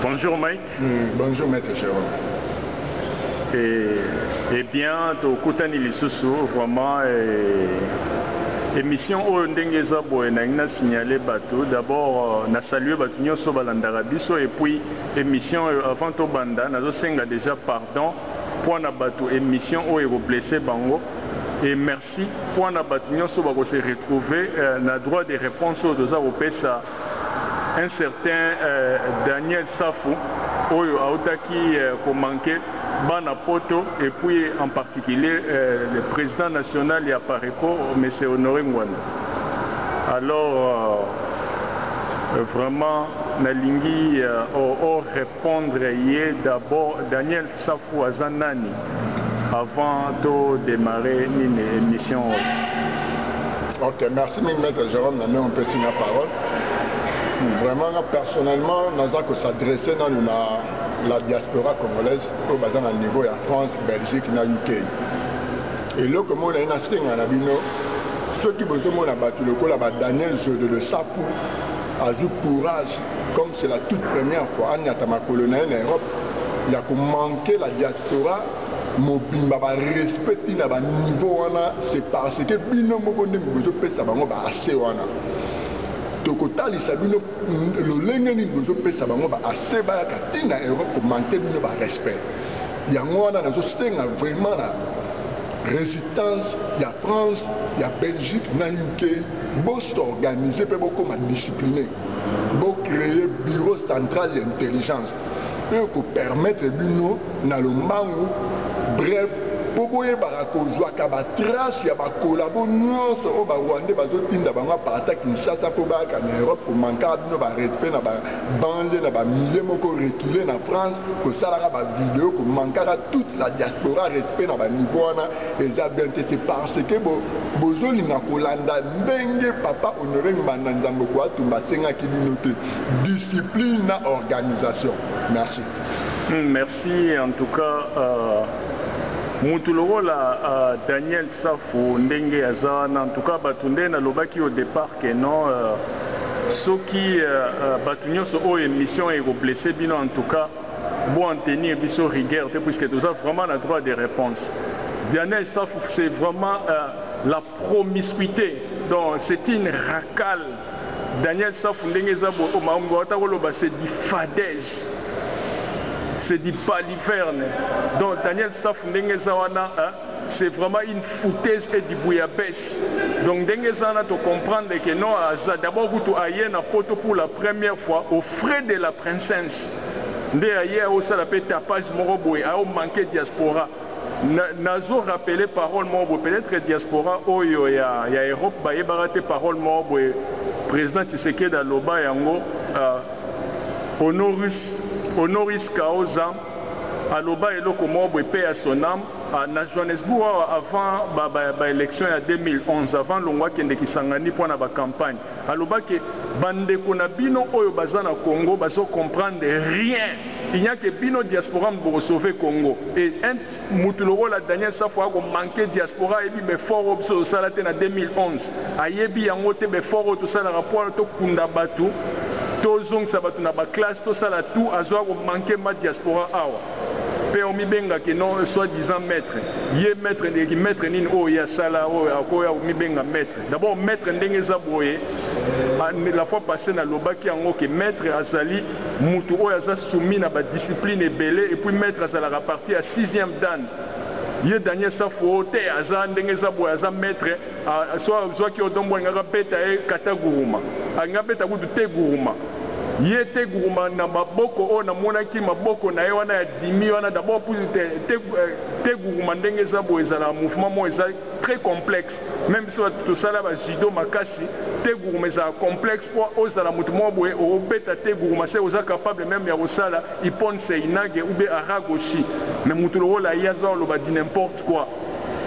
Bonjour Mike. Mm, bonjour Maître Jérôme. Et, eh bien, tokutani lisusu vraiment et, émission oyo ndenge eza boye nangi na signaler bato d'abord euh, na salue bato nyonso balandaka biso et puis émission oyo avant tobanda nazosenga déjà pardon mpo na bato émission oyo ekoblesse bango et merci Merci mpo na bato nionso bako se retrouver na droit de reponse oyo toza kopesa un certain Daniel Safu oyo awutaki ko manquer bana poto et puis en particulier le president national ya Apareco monsieur Honore Ngwanda alors vraiment nalingi o repondre ye d'abord Daniel Safu aza nani avant to demarrer nini emission oyo. Ok, merci mingi maître Jérôme na ndenge opesi nga parole. Vraiment nga personnellement naza ko s'adresser nanu na la diaspora congolaise oyo baza na niveau ya France, Belgique na UK. Eloko moko naye nasenga na bino soki bozomona bato lokola ba Daniel Zodo de Safu azwi courage comme c'est la toute première fois anyata makolo na ye na Europe ya ko manquer la diaspora mobimba ba respect ti na ba niveau wana c'est parce que bino moko nde bozopesa bango ba accès wana tokotalisa bino lolenge nini bozopesa bango ba accès bayaka ti na europe komanke bino ba respect yango wana nazosenga vraiment na résistance ya france ya belgique na uk bosorganize mpe bokoma discipline bocreye bureau central ya intelligence oyo ekopermettre bino na lombangu bref mpo boyebaka kozwaka batrace ya bakolabo nyonso oyo barwande bazotinda bango aparata kinshasa mpo bayaka na europe komankaka bino barespect na babande na bamilie moko recule na france kosalaka bavideo komankaka toute la diaspora respect na baniveau wana eza bien te se parce que bozolinga kolanda ndenge papa honore ngbanda nzambe koatumba asengaki bino te discipline na organisation merci hmm, merci en tout cas euh, mutu lokola uh, daniel safu ndenge aza wana en tout cas bato nde nalobaki au départ que non euh, soki uh, bato nyonso oyo émission ekoblesse bino en tout cas bo en tenir biso rigueur te puisque toza vraiment na droit de réponse daniel safu c'est vraiment uh, la promiscuite donc c'est une racale Daniel Safu ndenge eza boye o makambo bawata koloba c'est du fadez c'est du baliverne donc Daniel Safu ndenge eza wana hein? c'est vraiment une foutaise et du bouillabaisse donc ndenge eza wana tocomprendre ke non aza d'abord kutu aye na poto pour la première fois au frais de la princesse nde aye aosala mpe tapage moko boye aomanke diaspora Nazo rappeler parole moko boye, peut etre diaspora oyo ya ya Europe bayebaka te parole moko boye President Tshisekedi aloba yango honoris honoris causa aloba eloko moko boye paix à son ame na Johannesburg awa avant ba ba elections ya 2011 avant alongwa akende Kisangani mpo na ba campagnes Aloba que ba ndeko na bino oyo baza na Congo bazo comprendre rien il n'y a que bino diaspora mutu boko sauver Congo et un mutu lokola Daniel Safu ako manque diaspora ayebi b'effort oyo biso tosala te na 2011 ayebi yango te b'effort oyo tosalaka po to kunda batu to zongisa batu na ba classe to sala tout azo ako manque mba diaspora awa pe omi benga que non soit disant maitre ye maitre ndeki maitre nini oyo ye asala oyo akoya omi benga maitre D'abord maitre ndenge eza boye, la fois passee na lobaki yango que maitre azali mutu oyo aza soumis na ba discipline ebele et puis maitre azalaka parti ya sixieme dan, ye Daniel Safu oyo te aza ndenge eza boye aza maitre so azuaki odon mbo alingaki abeta ye kata guruma alingi abeta kutu te guruma ye te guruma na maboko oyo namonaki maboko na ye wana ya dimi wana d'abord te, te, te guruma ndenge eza boye ezalaka mouvement moko eza très complexe. Meme biso batu tosala ba judo makasi te guruma ezala complexe po ozala mutu moko boye obeta te guruma se oza capable meme ya kosala ippon seinage ou bien aragoshi mais mutu lokola ye aza oloba du n'importe quoi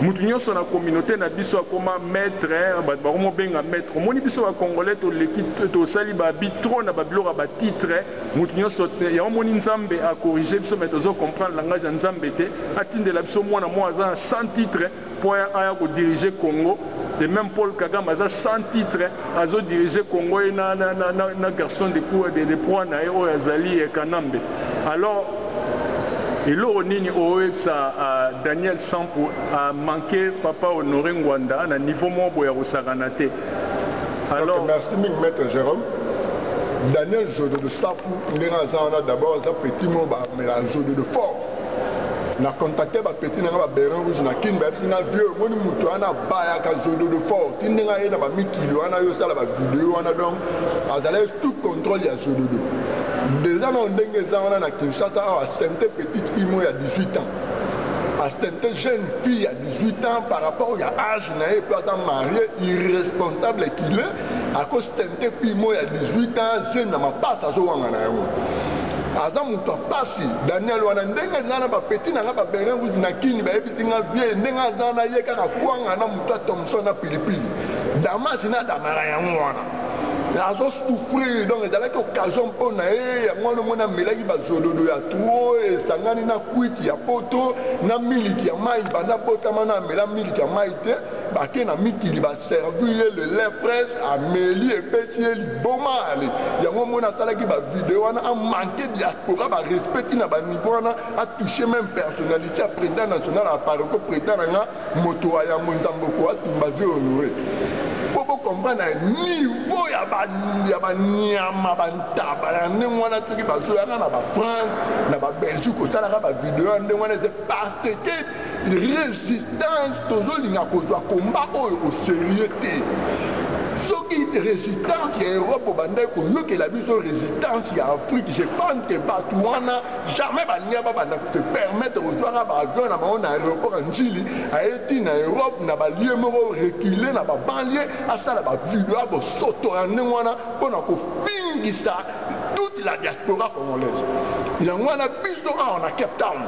mutu nionso na communaute na biso akoma maitre batu bakomo benga maitre omoni biso ba congolais toleki tosali ba abit trop na ba biloko ya ba titre mutu nionso yango omoni nzambe a corrige biso mais tozo comprendre langage ya nzambe te atindela biso muana moko aza na 100 titre Mpo aya aya ko diriger Congo et meme Paul Kagame aza sans titre azo diriger Congo ye na na na na na garçon de cou de de proie na ye oyo azali Kanambe alors eloko nini okoyebisa Daniel Sampu a manque papa Honore Ngwanda na niveau moko boye ya kosakana te alors. Merci mingi maitre Jerome. Daniel Zododo Safu ndenge aza wana d'abord aza petit moko ba mela zododo fort. na contacte ba petit na nga ba berin rouge na kin bayebisi nga vieux omoni moto wana abayaka zododo fort ti ndenge aye na bamikili wana yo osala bavideo wana donc azalaki tout contrôle ya zododo deja nao ndenge eza wana na kinshasa awa asente petite fille mo ya 18 ans asente jeune fille ya 18 ans par rapport ya age na ye mpe aza marie irresponsable kile akosente te pimo ya 18 ans zemi na mapasa azowanga na yango aza moto ya mpasi daniel wana ndenge eza na bapeti na ngai babenga nguzi na kini bayebisi ngai vie ndenge aza na ye kaka kwanga na moto ya thomson na pilipili damasi na damara yango wana azosouffrir donc ezalaki occasion mpo na ye yango wana omoni amelaki bazododo ya tuo esangani na kwiti ya poto na miliki ya mai banda botama na amela miliki ya mai te bake na mikili baservi ye le lait fraise ameli epesi ye liboma ale yango omoni asalaki bavideo wana amanke diaspora barespecti na baniveau wana atouche meme personnalité ya président national ya paroko président na nga moto wa yambo nzamboko atumba ze honore mpo bokomprana niveau ya banyama bantaba ya ndenge wana soki bazoyaka na bafrance na babelgique osalaka bavideo ya ndenge wana eze parce que resistance tozolinga kozwa komba oyo oserieux te soki resistance ya europe obandaki koyokela biso resistance ya afrique je pense ke bato wana jamais balinga babanda kote permettre kozwaka baavion na bango na aéroport ya njili aye ti na europe na balie moko recule na babanlie asala bavideo ya bosoto ya ndenge wana mpo na kofingisa toute la diaspora congolaise yango wana biso awa na cape town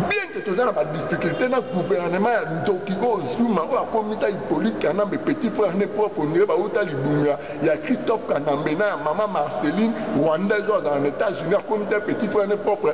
bien ke toza na badifficulté na gouvernement ya ndoki oyo zuma oyo akomisa hypolite kanambe petit frère ne propre ondire bauta libunga ya christophe kanambe na ya mama marceline rwandaise oyo azala na états-unis akomisa petit frère ne propre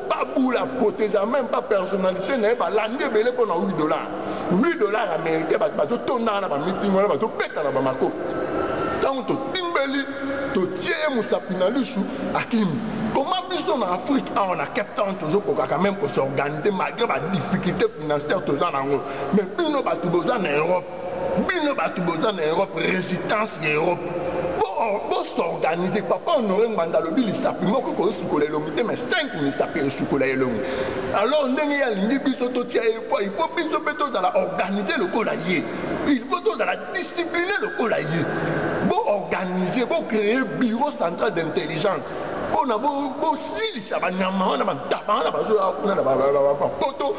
Babula proteza meme pas personnalité na ye balandi ebele mpo na 8 dollars 8 dollars américain bato bazotondaka na bamiting wana bazobeta na bamakofi ntango totimbeli totie ye mosapi na lisu akimi koma biso na afrique awa na cape town tozokokaka meme kosorganize malgré badifficulté financière toza na yango mais bino bato boza na europe bino bato boza na europe résistance ya europe bosorganize papa honore ngbanda alobi lisapi moko ekosukola elongi te mai 5 misapi esukola elongi alors ndenge ye alingi biso totia ye poi po biso mpe tozala organize lokola ye il faut tozala discipline lokola ye boorganize bocreye bureau central d'intelligence mpona bosilisa banyama wana bantaba wana bazoya kuna na bapoto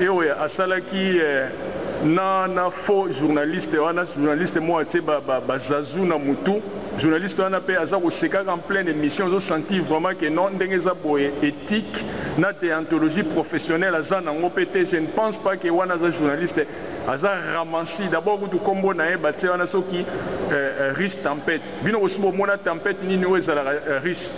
Eoya asalaki na na faux journaliste wana journaliste moko atie ba ba zazu na mutu journaliste wana pe aza kosekaka en pleine emission ozo sentir vraiment que non ndenge eza boye ethique na deontologie professionnelle aza nango pe te je ne pense pas que wana aza journaliste aza ramansi d'abord kutu kombo na ye batie wana soki riche tempete Bino bosi bo mona tempete nini oyo ezalaka riche?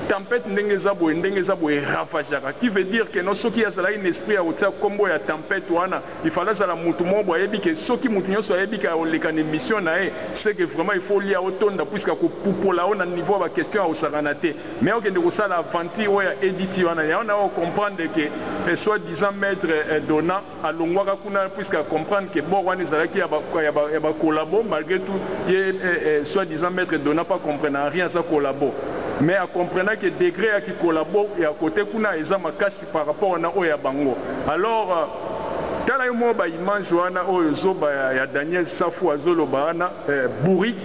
Tempete ndenge eza boye ndenge eza boye e ravageaka qui veut dire que non soki ye azalaki na esprit ya kotia kombo ya tempete wana il fallait azala mutu moko boye ayebi que soki mutu nionso ayebi que akoleka na emission na ye ce que vraiment il faut olia otonda puisque akopupola yo na niveau ya ba question ya kosakana te mais okende kosala aventure oyo ya Eddy wana yango nako comprendre que soit disant maitre Dona alongwaka kuna puisque a comprendre que bord wana ezalaki ya ba ya ba, ya ba collabo malgré tout ye eh, eh, soit disant maître dona pas comprendre en rien aza collabo mais a comprendre que degré ya ki collabo ya côté kuna eza makasi par rapport na oyo ya bango alors euh, tala yo moko baimage wana oyo zoba ya, ya daniel safu azoloba wana eh, bourrique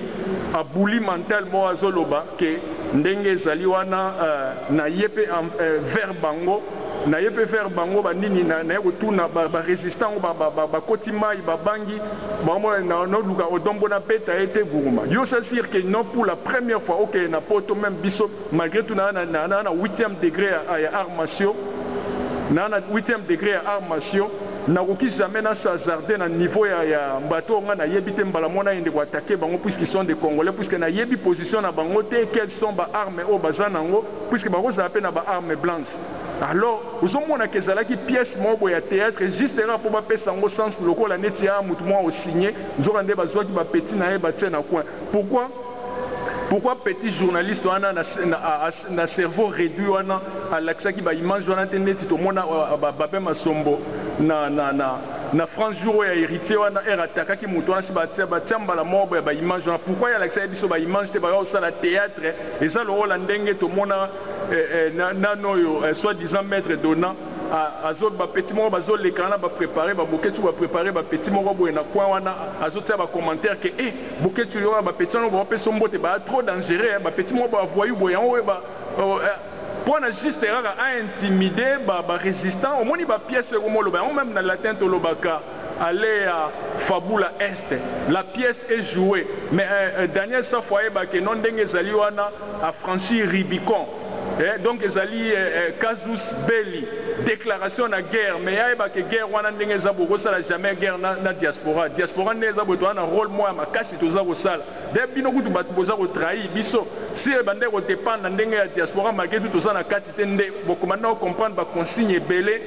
abouli mental moko azoloba ke ndenge ezali wana eh, na ye mpe eh, vers bango naye pe vers bango ba nini naye kotuna ba resistant yango ba koti mayi ba bangi ba omona nao luka odon mbo na beta ye te guruma yo ce sur que non pour la première fois okeye na poto meme biso malgre tout na na na huitième degre ya art macio na na huitième degre ya art macio na koki jamais na sazarde na niveau ya ya bato oyo nga na yebi te mbala mona yende ko attaque bango puisque sont de congolais puisque na yebi position na bango te quel sont ba arme oyo baza na ngo puisque bakozala mpe na ba armes blanches alors ozomona ke ezalaki pièce moko boye ya theatre juste kaka mpo bapesa yango sens lokola neti ya motu moko osigne nzoka nde bazwaki ba petit na ye batie na coin pourquoi pourquoi petit journaliste wana na, na, na cerveau réduit wana alakisaki ba image wana te neti tomona euh, ba, babe masombo na, na, na, na france jour oyo ya héritier wana ere atakaki motu wana si batia mbala moko boye ba image wana pourquoi ye alakisaki biso ba image te baya kosala theatre Eza lokola ndenge tomona eh, eh, na, nano oyo eh, soit disant maître donnant azo ba petit moko bazo leka na ba préparer ba boketsu ba préparer ba petit moko boye na coin wana azo tia ba commentaire que eh boketsu yo ba petit wana ba peso mbote ba trop dangereux hein. ba petit moko ba voyou boye yango ba oh, eh, pona juste kaka a intimider ba ba résistant omoni ba pièces ko moloba yango même na latin tolobaka Allez ya fabula est la pièce est joue mais eh Daniel safu ayeba ke non ndenge ezali wana a franchir ribicon eh donc ezali eh casus belli declaration na guerre mais ye ayeba ke guerre wana ndenge eza bokosala jamais guerre na diaspora diaspora nde eza boye toza na role moko ya makasi toza kosala D'ailleurs bino kutu batu boza ko trahir biso si ebandaki ko dependre na ndenge ya diaspora malgre tout toza na kati te nde bokomanda ko comprendre ba consigne ebele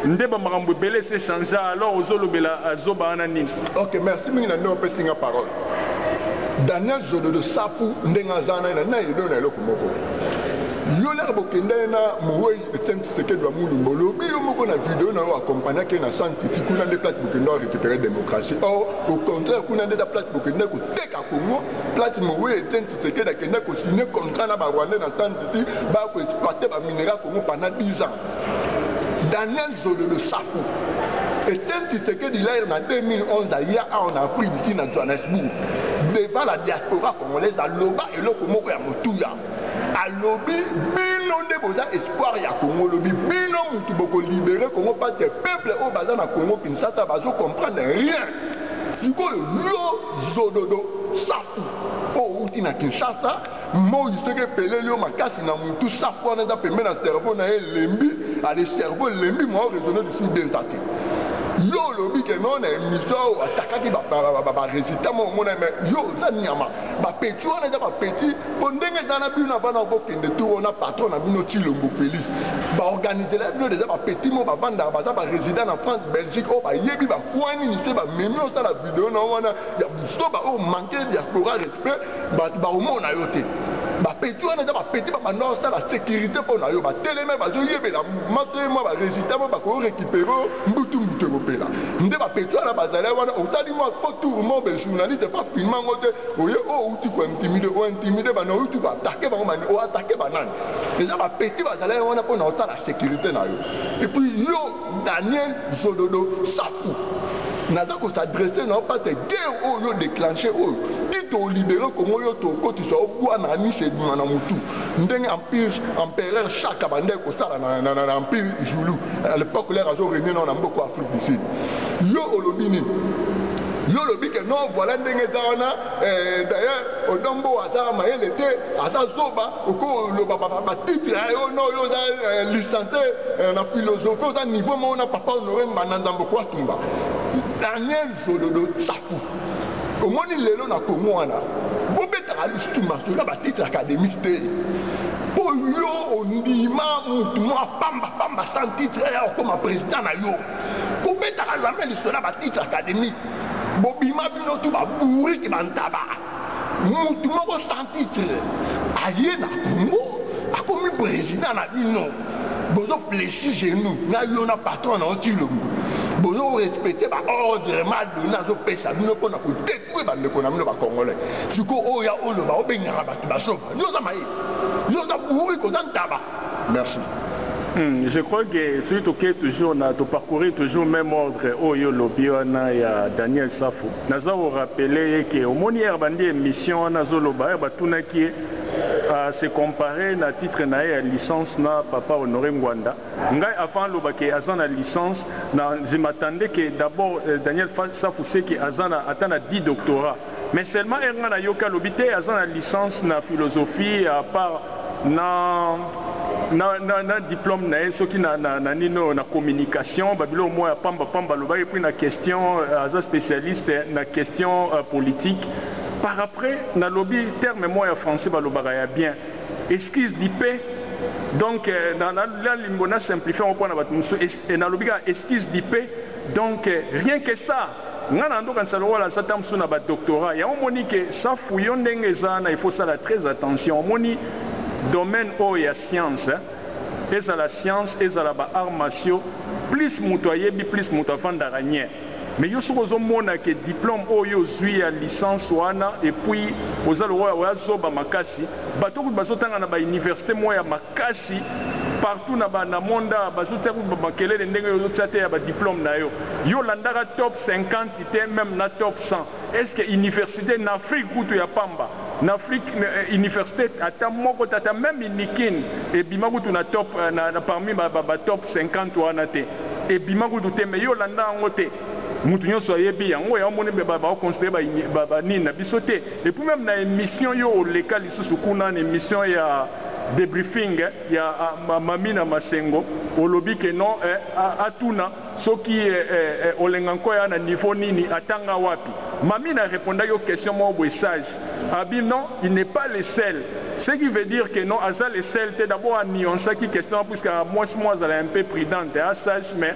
nde ba makambo ebele ese changea alors ozo lobela zoba wana nini? Ok merci mingi na ndenge opesi nga parole. Daniel Jododo safu ndenge aza wana na ye na eloko na eloko moko yo lere bokenda ye na moweyi Etienne Tshisekedi wa Mulumba olobi yo moko na video na yo accompagnaki ye na San Titi kuna nde place bokenda o récupérer démocratie or au contraire kuna nde eza place bokenda koteka Congo place mowe Etienne Tshisekedi akenda kosigne contrat na barwandais na San Titi baya koexploite bamineral Congo pendant 10 ans Daniel Zololo Safu Etienne Tshisekedi laire na 2011 aya awa na Afrique du Sud na Johannesburg devant la diaspora congolaise aloba eloko moko ya motuya alobi bino nde boza espoir ya congo olobi bino mutu bokolibere congo pate peuple oyo baza na congo kinshasa bazo comprendre rien sikoyo yo zododo safu oyo oh, outi na kinshasa moi soki epeleli yo makasi na mutu safu wana eza pembe na cerveau na ye elembi ale cerveau elembi mwa oresone lisusu benta te yo olobi ke no na emission oyo atakaki baresultat moko omona me yo oza nyama ba petit wana eza ba petit po ndenge eza na bino bana bokende tour na patron na bino tilombo félix baorganisela bino deja ba petit mo bavandaka baza ba résident na france belgique oyo bayebi bakwa nini se bamemi osala video na wana ya busoba oyo manke diaspora respect baomona yo te bapeti wana eza bapeti babanda osala sécurité mpo na yo bateleme bazoyebela mouvement to ye mwa baresultat mo bakoyo récupéré mbutu mbutu ekopela nde ba petit wana bazali wana otali mwa fo tour mo be journaliste pa filma ngo te oye o oh, outi ko intimide o intimide bana outi ko atake bango bani o atake banani eza ba petit bazali wana mpo na otala sécurité na yo et puis yo daniel zododo safu naza kosadresse na yo pate guerre oyo yo déclenche oyo ti tolibere kongo yo tokotisa yo bwana anisi ebima na motu ndenge empire empereur shaka bandaki kosala na, na, na, na empire zulu à l'époque lere azo renie nao na mboko afrique du sud yo olobi nini yo olobi ke non voilà ndenge eza wana eh, d'ailleurs odombo aza mayele te aza zoba okoloba batitre ya yo no yo oza eh, license eh, na philosophie oza niveau moko na papa honore mbanda nzambo kuatumba daniel Solodo Tsaku. Omoni lelo na Congo wana bobetaka lisusu masolo ya batitre académie te mpo yo ondima motu mwa pambapamba sans titre ya okoma président na yo kobetaka jamais lisolo ya batitre académie bobima bino tu babourike bantaba mutu moko sans titre aye na congo akomi président na bino bozo plesi genou na yo na patron na yo tilombo bozo respecte baordre madona azopesa bino mpona kotetue bandeko na bino bacongolais siko oyo ya oloba obengaka bato basoba yo oza maye yo oza bourike oza ntaba Merci. Hmm, je crois que soki tokei toujours na toparcourir toujours même ordre oyo olobi wana ya daniel safo naza korapele ye ke omoni yere bandi émission wana azoloba yere batunaki ye uh, se compare na titre na ye ya licence na papa honore ngwanda ngai avant aloba ke aza na licence na je m'attendais ke d'abord euh, daniel safu seke aza na ata na 10 doctorat Mais seulement heure nga nayoki alobi te aza na licence na philosophie a part na na, na, na diplome na ye soki na, na, na nini oyo na communication babiloko moko ya pamba pamba alobaki epuis na question euh, aza specialiste na question uh, politique par après nalobi terme moko ya français balobaka ya bien excuse du pe donc euh, na, na, na limbo na simplifie yango mpo na bato mosusu nalobi kaka excuse du pe donc euh, rien que ça Nga na ndokanisa lokola satan mususu na ba doctorat yango omoni ke safu yo ndenge eza wana il faut sala très attention omoni domaine oyo ya science ezala science ezala ba arts martiaux plus mutu ayebi plus mutu afandaka nye mais yo soki ozo mona ke diplome oyo yo ozui ya licence wana epuis oza lokola oya zoba makasi batu kutu bazo tanga na ba universite moko ya Kasi partout na ba na monde awa bazo tia kutu ba makelele ndenge yo ozo tia te ya ba diplome na yo. Yo olandaka top 50 te meme na top 100. Est ce que universite n'afrique kutu ya pamba n'afrique universite ata moko te ata meme unikin ebima kutu na top na parmi ba top 50 wana te ebima kutu te mais yo olandaka yango te. Mutu nionso ayebi yango yango omoni ba ba ko considere ba ini ba ba nini na biso te et puis meme na emission yo oleka lisusu kuna na emission ya debriefing ya ma mami na masengo olobi que non eh atuna soki eh eh olenga nko aya na niveau nini atanga wapi mami na repondaki yo question moko boye sage abi non il n'est pas le seul ce qui veut dire que non aza le seul te d'abord a nuancaki question wana puisque mwasi moko azalaka un peu prudente eza sage mais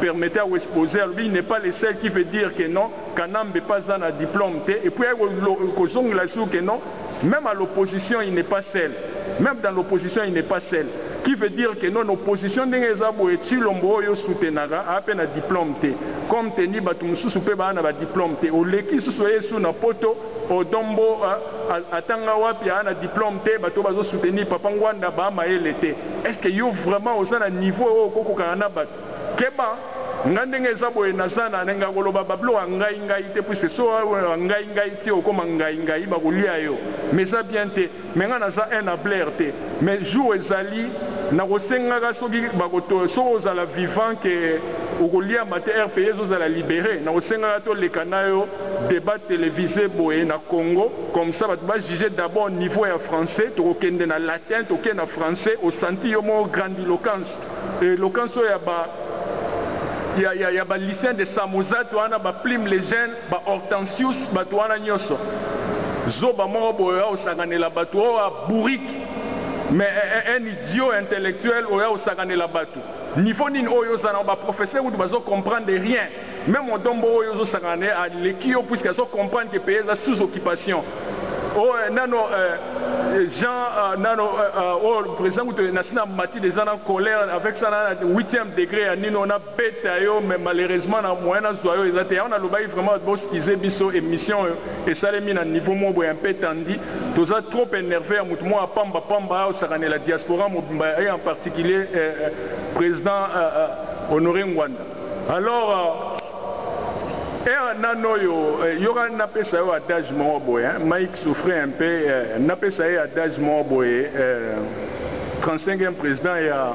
permettez a wespoze alobi il n'est pas le seul qui veut dire que non kanambe pe aza na diplome te et puis aye kozongela lisusu que non meme à l'opposition il n'est pas seul meme dans l'opposition il n'est pas seul qui veut dire que non na opposition ndenge eza boye tshilombo oyo soutenaka aa pe na diplome te comme teni batu mosusu pe baa na ba diplome te oleki lisusu ye su na poto Odon mbo euh atanga wapi aa na diplome te bato bazo soutenir papa ngwanda ba mayele te est ce que yo vraiment oza na niveau oyo oko kokana na bato keba nga ndenge eza boye naza na nenge ya koloba ba biloko ya ngai ngai te puisque soki oloba ngai ngai ti okoma ngai ngai bako lia yo mais eza bien te. Mais nga naza un hablaire te mais jour ezali nakosengaka soki bako to soki ozala vivant que okoliama te rpa ezozala libere nakosengaka toleka nayo debat televise boye na congo comme ça batu ba juge d'abord niveau ya français tokokende na latin toke na français osanti yo moko grandiloquence eloquence oyo ya ba ya ya ya ba lucien de samosate wana ba plume legene Ba Hortensius batu wana nioso zoba moko boye oya kosakanela batu oa bourrique mais un idiot intellectuel oya kosakanela batu niveau nini oyo oza nango ba professeur kutu bazo comprendre rien meme odombo oyo ozo sakana naye aleki yo puisque azo comprendre que pays eza sous occupation oyo nano Jean nano oyo president kutu nasi na mati dejà na colère avec ça na huitième degre ya nini oyo na peta yo mais malheureusement na moyen na zua yo eza te yango na lobaki vraiment bo skize biso emission oyo esalemi na niveau moko boye un peu tendu toza trop enerve ya mutu moko apamba pamba ayo sakanela diaspora mobimba et en particulier eh, eh, president eh, eh, honore ngwanda alors euh, era eh, nano oyo eh, yoka napesa yo adage moko boye hein? mike souffre un peu eh, napesa ye adage moko boye eh, 35e président ya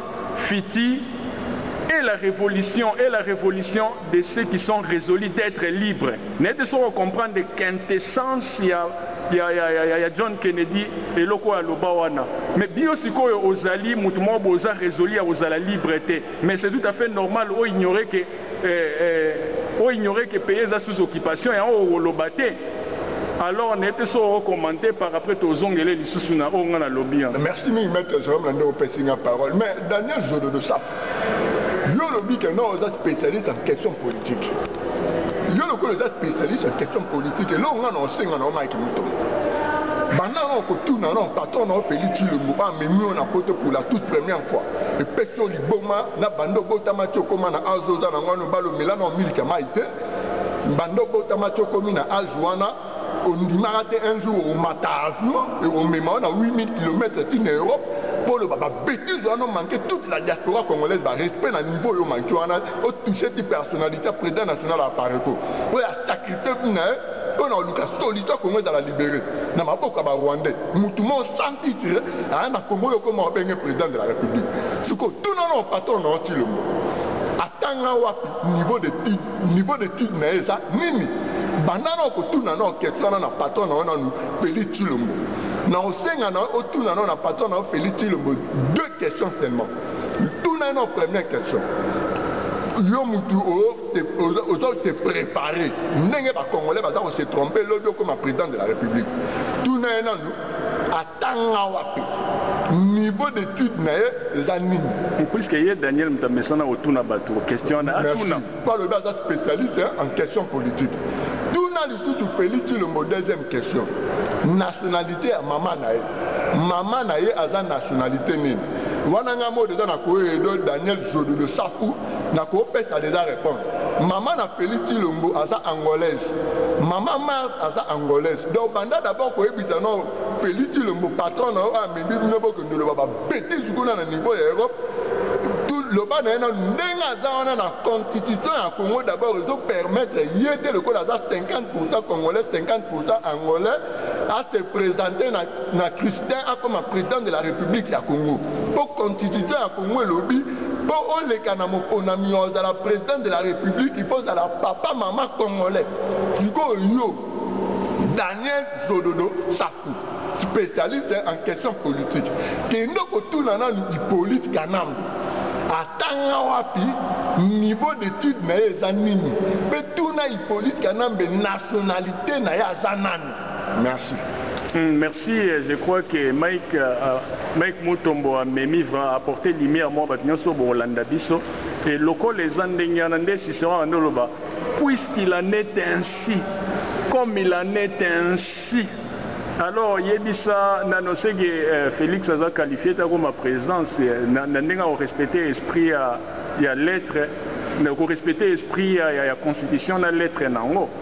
Fiti est la revolution est la revolution de ceux qui sont resolus d'etre libres nayebi te soki o comprendre quintessence ya ya ya ya ya John Kennedy eloko oyo aloba wana mais bino sikoyo ozali mutu moko boza resolu ya kozala libre te mais c'est tout à fait normal o ignorer que Eh eh o ignorer que pays eza sous occupation yango okoloba te alors ne pe soki oko commenter par après tozongele lisusu na oyo nga nalobi hein. Merci mingi maître Jérôme na ndenge opesi nga parole mais Daniel Zododo Safu yo olobi que non oza spécialiste en question politique yo lokola oza spécialiste en question politique eloko nga na osenga na yo Mike Mutombo banda na okotuna na patron na yo Félix Tshilombo amemi yo na poto pour la toute première fois epesi boma na bando obotama ti okoma na azo oza na ngwano balo mela na omiliki ya mai te bando obotama ti okomi na azo wana ondimaka te un jour omata avion ekomema yo na 8000 km ti na europe mpo oloba babetise wana omanke toute la diaspora congolaise barespect na niveau oyo omanke wana otouche ti personnalité ya président national ya pareco oyo asacrifie vi na ye oyo na oluka sikoyo lito kongo ezala libere na maboko ya barwandais mutu mo sans titre aya na kongo oyo okoma obenge président de la république sikoyo tuna na patron na otilombo atanga wapi niveau de niveau de titre na ye eza nini banda na okotuna na oketio wana na patron na yo nanu feli tilombo na osenga na otuna na na patron na yo feli tilombo deux questions seulement tuna ye na première question yo mutu ozo se prepare ndenge bacongolais baza kose trompe lobi okoma président de la république tuna ye nanu atanga wapi niveau d'étude na ye eza nini puiske ye daniel moto amesana kotuna bato question wana atuna po alobi aza spécialiste en question politique tuna lisusu félix cilombo deuxième question nationalité ya mama na ye mama na ye aza nationalité nini wana ngai mode eza na koyedo daniel jododo safu na kopesa deja reponse mama na felix tilombo aza angolaise mama marte aza angolaise donc banda d'abord koyebisa no felix tilombo patron na yo amembi bino bokende loba babetise kuna na niveau ya europe loba na ye na ndenge aza wana na constitution ya congo d'abord ezopermettre ye te lokola aza 50 pourcent congolais 50 pourcent angolais ase présente na, na christin akoma président de la république ya congo mpo constitution ya congo elobi po oleka na moponami ozala president de la republique il faut ozala papa mama congolais sikoyo yo daniel zododo safu spécialiste en question politique kende kotuna nanu hippolite kanambe atanga wapi niveau d'étude na ye eza nini mpe tuna hippolite kanambe nationalité na ye aza nani Merci. Hmm, merci, euh, je crois que Mike, euh, euh, Mike Mutombo a memi vraiment apporté lumière moi bato nyonso bokolanda biso et lokola eza ndenge wana nde Cicéron abandi oloba puisqu'il en est ainsi comme il en est ainsi alors yebisa nano seke euh, Félix aza qualifié ta koma présidence euh, na, na ndenge akorespecte esprit ya, ya lettre na korespecte esprit ya, ya, ya constitution na lettre nango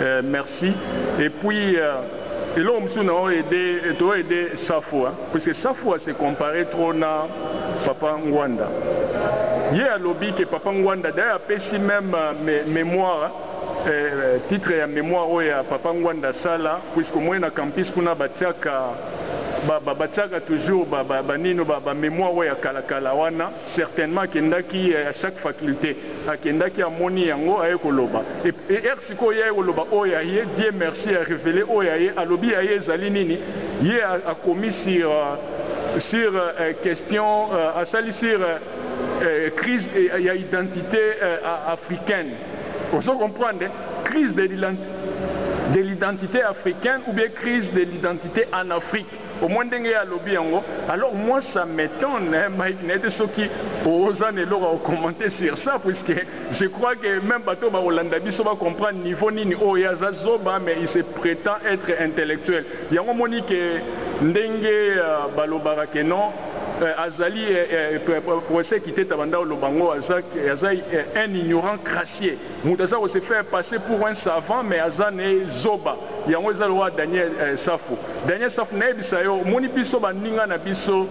Eh merci et puis euh, eloko mosusu na aide to aide Safu hein, parce que Safu a se comparer trop na Papa Ngwanda. Ye alobi que Papa Ngwanda d'ailleurs apesi même euh, me, mémoire eh, euh, titre ya mémoire oyo ya Papa Ngwanda sala puisque moi na campus kuna batiaka ba, ba, batiaka toujours ba, ba, ba nino ba, ba mémoire oyo ya kalakala wana Certainement akendaki eh, à chaque faculté akendaki amoni yango aye koloba et er sikoyo ye aye koloba oyo ya ye Dieu merci a révélé oyo ya ye alobi ya ye ezali nini ye akomi sur euh, sur euh, question euh, asali sur crise ya identité africaine ozo comprendre crise de l'identité africaine ou bien crise de l'identité en Afrique Omoni ndenge ye alobi yango alors moi ça m'etonne Mike nayebi te soki oza na eloko ya ko commenter sur ça puisque je crois que meme bato oyo bakolanda biso ba comprendre niveau nini oyo ye aza zoba mais il se pretend etre intellectuel yango omoni que ndenge balobaka que non azali Professeur Kiteta banda oloba yango aza un ignorant crassier. Mutu aza ko se faire passer pour un savant mais aza ne zoba yango eza lokola Daniel eh, Safu Daniel Safu nayebisa yo omoni biso baninga na biso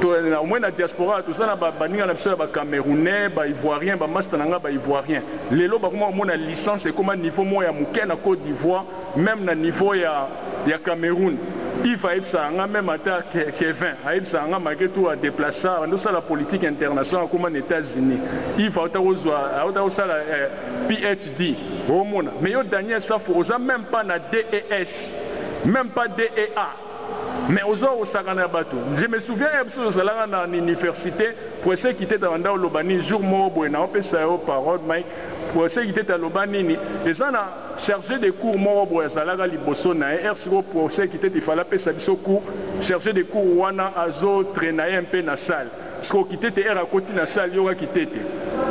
to na omoni na diaspora toza na baninga na biso ya ba Camerounais ba Ivoiriens ba masta na nga ba Ivoiriens lelo bakoma komona licence ekoma niveau moko ya moke na Cote d'Ivoire Meme na niveau ya ya Cameroun Yves ayebisaka nga meme ata Kevin ayebisaka nga malgre tout a deplacer abandi kosala politique internationale akoma na Etats Unis Yves awuta kozua awuta kosala PHD omona mais yo Daniel Safu oza meme pas na DES meme pas DEA mais ozo ya kosakana na batu je me souviens heure biso tozalaka na universite Prossy Kiteta abanda koloba nini jour moko boye nao pesa yo parole Mike Prossy Kiteta aloba nini eza na Charge de cour moko boye azalaka liboso naye heure sikoyo procès ekiteti il fallait apesa biso coup charge de cour wana azo trainaye un peu na salle sikoyo kitete heure akoti na salle yoka kitete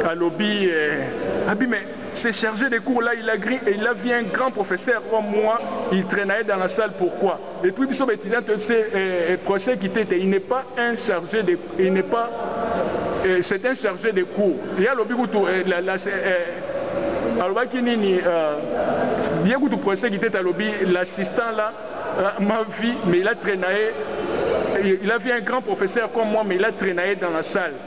alobi eh, abi mais ce charge de cour là il a il a vu un grand professeur comme moi il trainaye dans la salle pourquoi? Et puis biso ba etudiants to se eh, français kitete il n'est pas un chargé de il n'est pas eh, c'est un chargé de cours ye alobi kutu eh, la, la, eh, alobaki nini uh, ye kutu français kitete alobi l'assistant là uh, ma vie mais il a traînaye il a vu un grand professeur comme moi mais il a traînaye dans la salle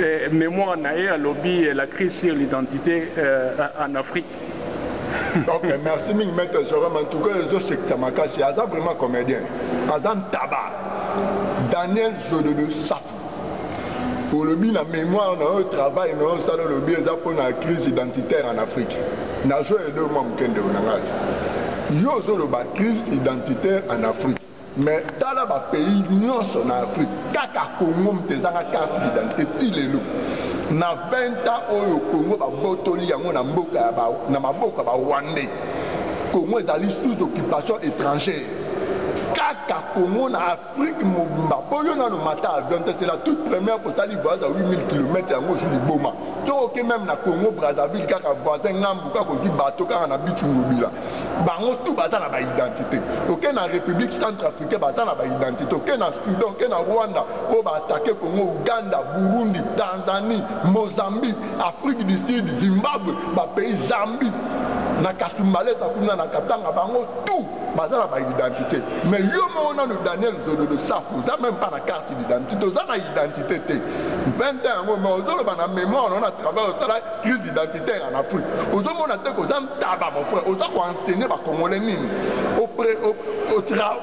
Eh, memoire na ye alobi eh, la crise sur l'identité eh, en Afrique ok merci mingi maître joram en tout cas ezosekisa makasi aza vraiment comédien aza ntaba daniel zododo safu olobi na mémoire na oyo travail na oyo osala olobi eza mpona crise identitaire en afrique nazwa edo mwa mokendeko na ngai yo ozoloba crise identitaire en afrique Mais tala ba pays nionso na Afrique kaka Congo moto ezanga carte d'identité ti lelo na 20 ans oyo Congo babotoli yango na mboka ya ba na maboko ya ba Rwandais Congo ezali sous occupation etrangère kaka Congo na Afrique mobimba po yo nano mata avion te c'est la toute première otali voyage ya 8000 km yango ozwi liboma to oke meme na Congo Brazzaville kaka voisin ngambu kaka ozwi bateau kaka na Beach Ngobila bango tout baza na baidentité oke na république centre africain baza na baidentité oke na soudan oke na rwanda oyo baatake congo uganda burundi tanzanie mozambique afrique du sud zimbabwe bapays zambie na kasumbalesa kuna na katanga bango tout baza na baidentité mais yo moko nano daniel zololo safu oza meme pas na carte d'identité oza na identité te mpenta yango mais ozoloba na mémoire nao na travail osala crise identitaire en afrique ozomona te koza Taba mon frère, oza ko enseigner ba congolais nini?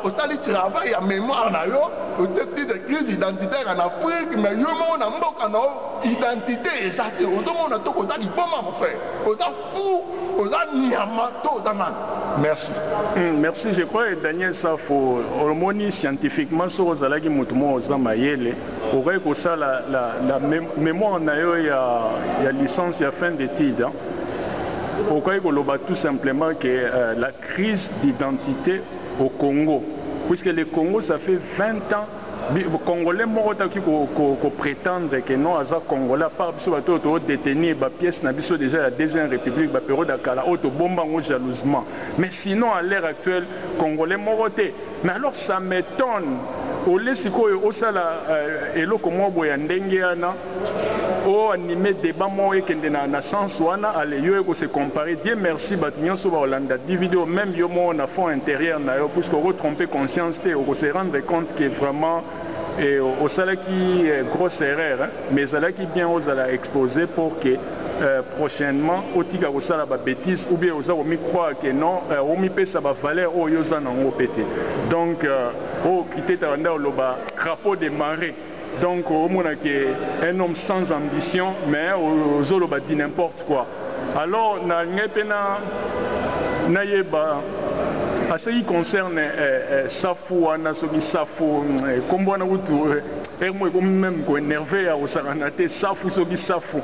Osali travail ya memoire na yo, oteki de crise identitaire en Afrique, mais yo moko na mboka na yo identité eza te. Ozomona to oza liboma mon frère, oza fou, oza nyama to oza nani? Merci. Mm, merci, je crois que Daniel Safo, omoni scientifiquement soki ozalaki motu moko oza mayele, okaki kosala la, la mémoire na yo ya, ya licence ya fin d'étude. Hein? Okokaki koloba tout simplement que euh, la crise d'identité au Congo, puisque le Congo ça fait 20 ans congolais moko taki koprétendre ko, ko ke non aza congolais apart biso bato oyo toodétenir bapièce na biso déjà ya deuxième république baperiode ya kala oyo tobomba yango jalousement mais sinon à l'heure actuelle congolais moko te mais alors ça m'étonne ole sikoyo osala euh, eloko moko boye ya ndenge wana o anime debat moko ekende na, na sens wana ale yo eko se comparer Dieu merci bato nyonso bakolanda DVD oyo meme yo moko na fond interieur na yo puisque oko tromper conscience te oko se rendre compte que vraiment eh, osalaki eh, grosse erreur hein? mais ezalaki bien ozala expose pour que euh, prochainement otika kosala ba bêtise ou bien oza komi croire que non euh, omipesa ba valeur oyo oza nango pe te donc euh, oyo kitetaka nde oloba crapaud de marais Donc omona ke un homme sans ambition mais ozoloba du n'importe quoi alors na ngai pe na nayeba a ce qui concerne eh, eh, safu wana soki safu eh, kombo wana kutu eh, heure moko ekomi meme ko enerve ya kosakana te safu soki safu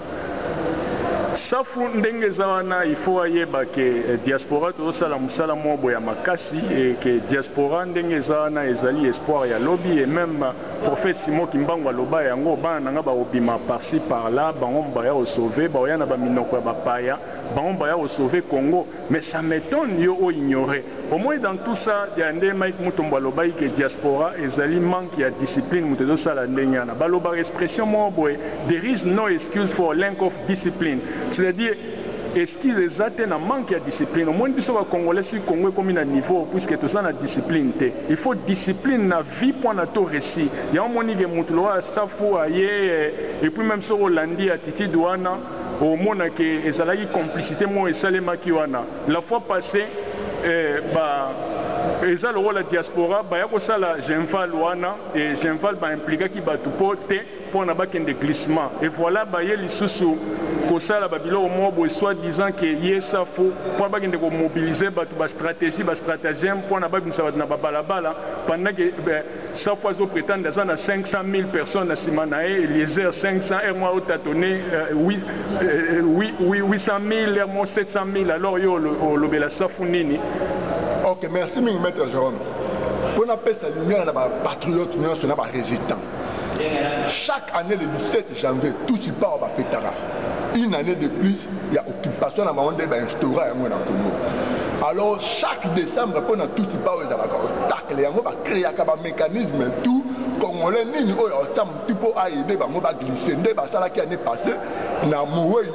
safu ndenge eza wana il faut ayeba ke eh, diaspora tozosala mosala moko boya makasi et ke diaspora ndenge eza wana ezali espoir ya lobi et même Prophète Simon Kimbangu aloba yango, bana na nga bakobima par ci par là, bango moko baya ko sauver, bakoya na ba minoko ya ba paya, bango moko baya ko sauver Congo, mais ça m'etonne yo o ignorer. Omoni dans tout ça, ya nde Mike Mutombo alobaki que diaspora ezali manque ya discipline moto ezo sala ndenge wana. Balobaka expression moko boye, there is no excuse for lenck of discipline, c'est à dire, Excuse eza te na manque ya discipline omoni biso ba congolais soki congo ekomi na niveau puisque toza na discipline te il faut discipline na vie po na to resi yango omoni ke mutu lokola safu aye et puis meme soki olandi attitude wana omona ke ezalaki complicite moko esalemaki wana la fois passe eh, ba eza lokola diaspora baya kosala genval wana et genval ba implikaki batu po te pona bakende glissement et voila baye lisusu kosala ba biloko moko boye soit disant que ye safu pona bakende ko mobiliser batu ba strategie ba stratagem pona babimisa batu na ba balabala pendant que safu azo pretendre aza na 500000 personnes na sima naye eliezer 500 heure moko azo tatonner 800000 heure moko 700000 alors yo olobela safu nini. Ok merci mingi maitre Jerome po napesa lumière na ba patriotes nionso na ba resistants. Chaque annee le 17 janvier tutsi power ba fetaka une annee de plus ya occupation na bango nde ba instaura yango na Congo alors chaque decembre mpo na tutsi power ezalaka obstacle yango ba creaka ba mecanisme tout congolais nini oyo aotia mutu mpo aide bango ba glisse nde basalaki annee passee na mowei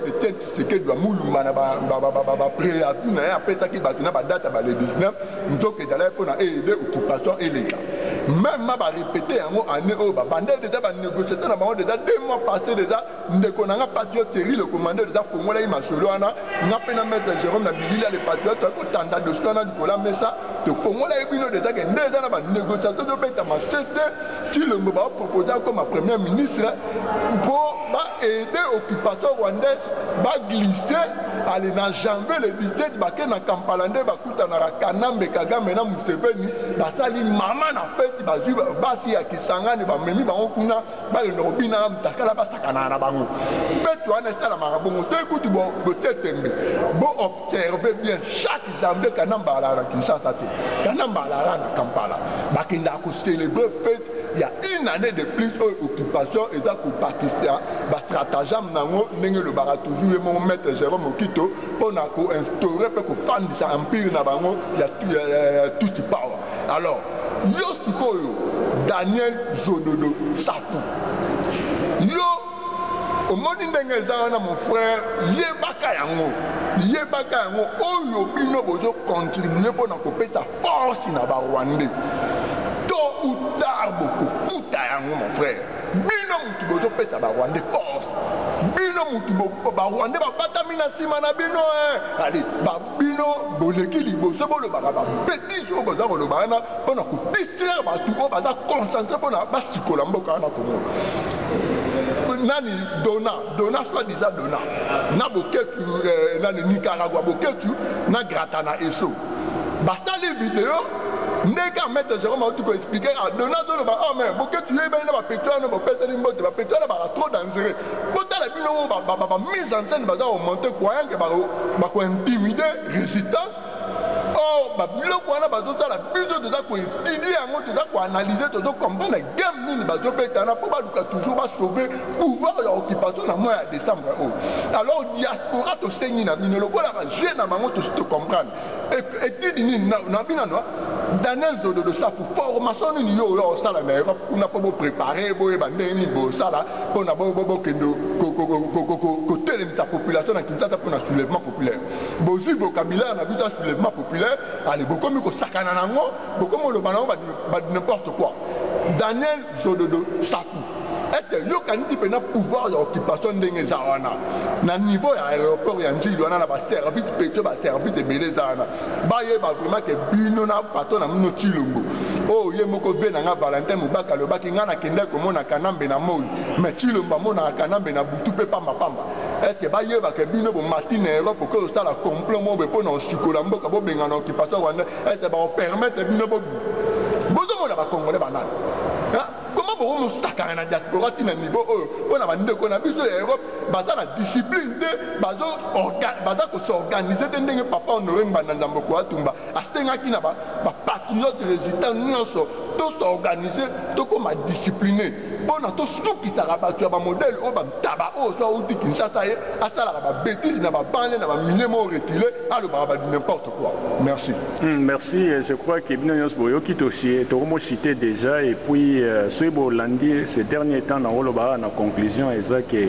Tshisekedi amulumba na bapreavis na ye apesaki bato na badate ya bale 19 nzoka ezalaki mpo na eede occupation eleka meme ma barepete yango ane oyo babandeli deja banegociation na bango deja de mois passe deja ndeko na nga patriote seri le commandeur deja afongolaki masolo wana nga mpe na maître jérome na bilili ya le patriote toyaki kotanda dosi wana likolo ya mesa tofongolaki bino deja ke nde eza na banegociation ezobetama sete tilombo baopropose akoma premier ministre mpo ba aide occupation rwandaise ba glisse ale na janvier le 17 bake na kampala nde bakutanaka kanambe kagame na museveni basali mama na feti bazwi basi ya kisangani bamemi bango kuna balenda kobina na mutakala basakanaka na bango feti wana esalamaka bongo soki kutu botie tembe bo observe bien chaque janvier kanambe alaka na kinshasa te kanambe alaka na kampala bakendaka kocelebre feti Il y a une année de plus oyo oh, occupation eza kobakisa bastratagame na yango ndenge elobaka toujours ye moko maître jérôme okito mpo na koinstaure mpe kofandisa empire na bango ya tuti power alors yo sikoyo daniel zododo safu yo omoni ndenge eza wana mon frère yebaka yango yebaka yango oyo bino bozokontribue mpo na kopesa force na ba rwandais to ou tard bokofuta yango mon frère bino mutu bozopesa ba rwandais force bino mutu ba rwandais babatami na nsima na bino eh. ale bino boleki liboso bolobaka babetise oyo boza koloba wana mpona kodistraire bato oyo baza concentre mpona basikola mboka wana komona nani dona dona soit disant dona na boketu eh, nani nicaragua boketu na grata na eso basali video ndenge kaka maître jérôme auti koexplike kaka dona azoloba o oh, me boketi yo ebani na bapeti wana bopesani mbote bapeti wana baka trop dangereux botala bino oyo bamise en scène baza komonte croyant ke bakointimide résistance or babiloko wana bazotala biso toza koetudie yango toza koanalyse tozo comprendre game nini bazobetana mpo baluka toujours basauve pouvoir ya occupation na mois ya décembre oyo alors diaspora tosengi na bino lokola vie na bango tosi to comprendre etudi nini na binano daniel zododo safu formation nini yo oyo osala na europe kuna mpo boprépare boyeba ndenge nini bosala mpo na bokende kotelemisa population na kinshasa mpo na soulèvement populaire bozwi vocabulaire na biso ya soulèvement populaire ale bokomi kosakana na yango bokomi oloba na yango ba n'importe quoi daniel Sododo Saku. Est-ce que yo kaniti pena pouvoir ya occupation ndenge eza wana na niveau ya aéroport ya Ndjili wana na ba service petio ba service ebele eza wana bayeba vraiment ke bino na patron na mino Tshilombo oyo oh, ye moko ve na nga Valentin Mubaka alobaki nga nakendaki komona Kanambe na moi mais Tshilombo amonaka Kanambe na butu mpe pamba pamba est-ce que bayeba ke bino bomati na Europe okoki kosala complot moko mpo na osikola mboka bobengana occupation rwandais ete bakopermetre bino bobi bozomona bakongole banani koma bokomusakana na diaspora ti na niveau oyo mpo na bandeko na biso ya europe baza na discipline te baza kosorganize te ndenge papa honore ngbanda ndamboko atumba asengaki na bapatriote résultat nyonso tosorganize tokoma discipline mpo na tosukisaka bato ya bamodele oyo bantaba oyo so auti kinshasa ye asalaka babetise na babanle na bamilie mo retile alobaka ba n'importe Merci. Mm, merci. Euh, je crois que bino nyonso boyoki euh, tokomosite déjà et puis euh, soki bolandi ce dernier temps na olobaka na conclusion eza ke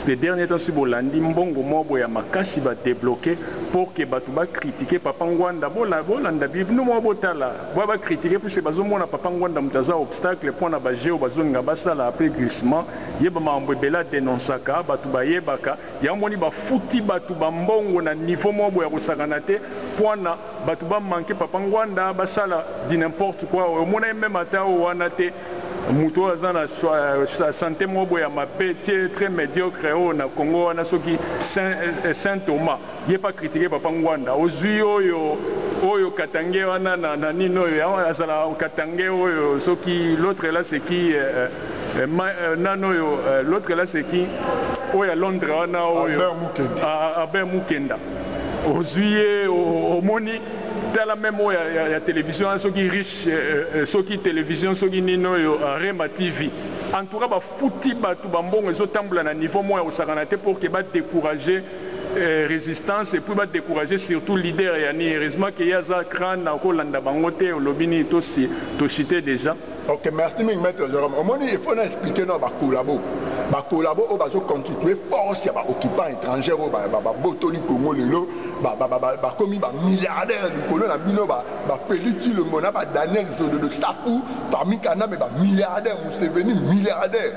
ce dernier temps soki bolandi mbongo moko boye ya makasi badebloke pour ke bato bakritike papa ngwanda bolanda bino moko botala boya bakritike puise bazomona papa ngwanda moto aza obstacle mpo na bajeo bazonginga basala apres glissement yeba makambo ebele adenonsaka bato bayebaka Yango omoni ba futi batu ba mbongo na niveau moko boye ya kosakana te puana batu ba manque papa nguanda ba sala du n'importe quoi oyo omona ye meme ata oyo wana te mutu oyo aza na sante moko boye ya mabe te très mediocre oyo na congo wana soki saint thomas Ye pa critique papa ngwanda ozui oyo oyo katangais wana na na nini oyo ya wana azala katangais oyo soki l'autre là c'est qui euh, euh, ma, euh, nani oyo euh, l'autre là c'est qui oyo ya Londres wana oyo Albert Mukenda, ah, ah, Albert Mukenda. ozui ye omoni tala meme oyo ya, ya, ya télévision wana soki riche euh, euh, soki télévision soki nini oyo euh, Rema TV en tout cas bafuti bato bambongo ezotambola na niveau moko ya kosakana te pour que ba décourager eh, resistance epuis ba décourager surtout leader ya ni heureusement ke ye aza crane akolanda bango te olobi nini tosi toshite déjà ok merci mingi maître jérôme omoni il faut na expliquer na bakolabo bakolabo oyo bazoconstitue force ya baoccupant étrangère oyo babotoli congo lelo bakomi bamilliardaire likolo na bino bafeli tilombo na badaniel zododo safu fami kaname bamilliardaire museveni milliardaire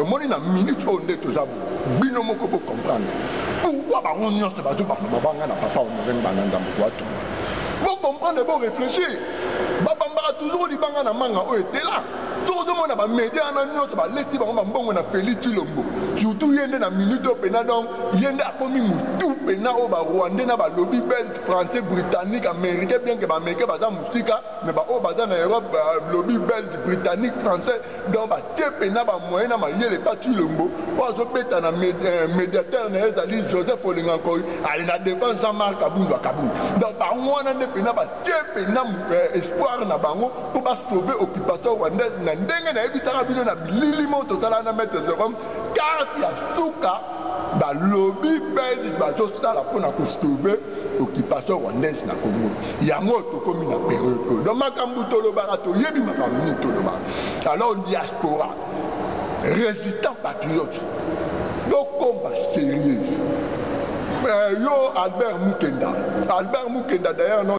omoni na minute oyo nde toza bino moko bo comprendre pourquoi bango nyonso bazo bamba mabanga na papa honoreng bananda moto atuma bo comprendre bo réfléchir babambaka toujours libanga na manga oyo etela soki ozomona bamedia wana nyonso baleti bango bambongo na feli tilombo surtout ye nde na minute oyo mpena donc ye nde akomi motu mpena oyo barwandais na balobi belge français britannique américain bien ke baaméricain baza mosika me baoyo baza na europe balobi belge britannique français donc batepe na bamoyen na mayele pa cilombo oyo azobeta na eh, médiateur na ye ezali joseph olenga nkoi ali na devant jean marc abundu akabundu donc bango wana nde mpena batepe na eh, espoir na bango mpo basauve occupation rwandaise na ndenge nayebisaka bino na bilili mo totala na maître jerome karte ya suka balobi belge bazosala mpo na kosauve occupation rwandaise na Congo yango tokomi na periode oyo donc makambo tolobaka toyebi makambo nini tolobaka alors diaspora résistant patriote tokoma sérieux euh, yo albert mukenda albert mukenda d'ailleurs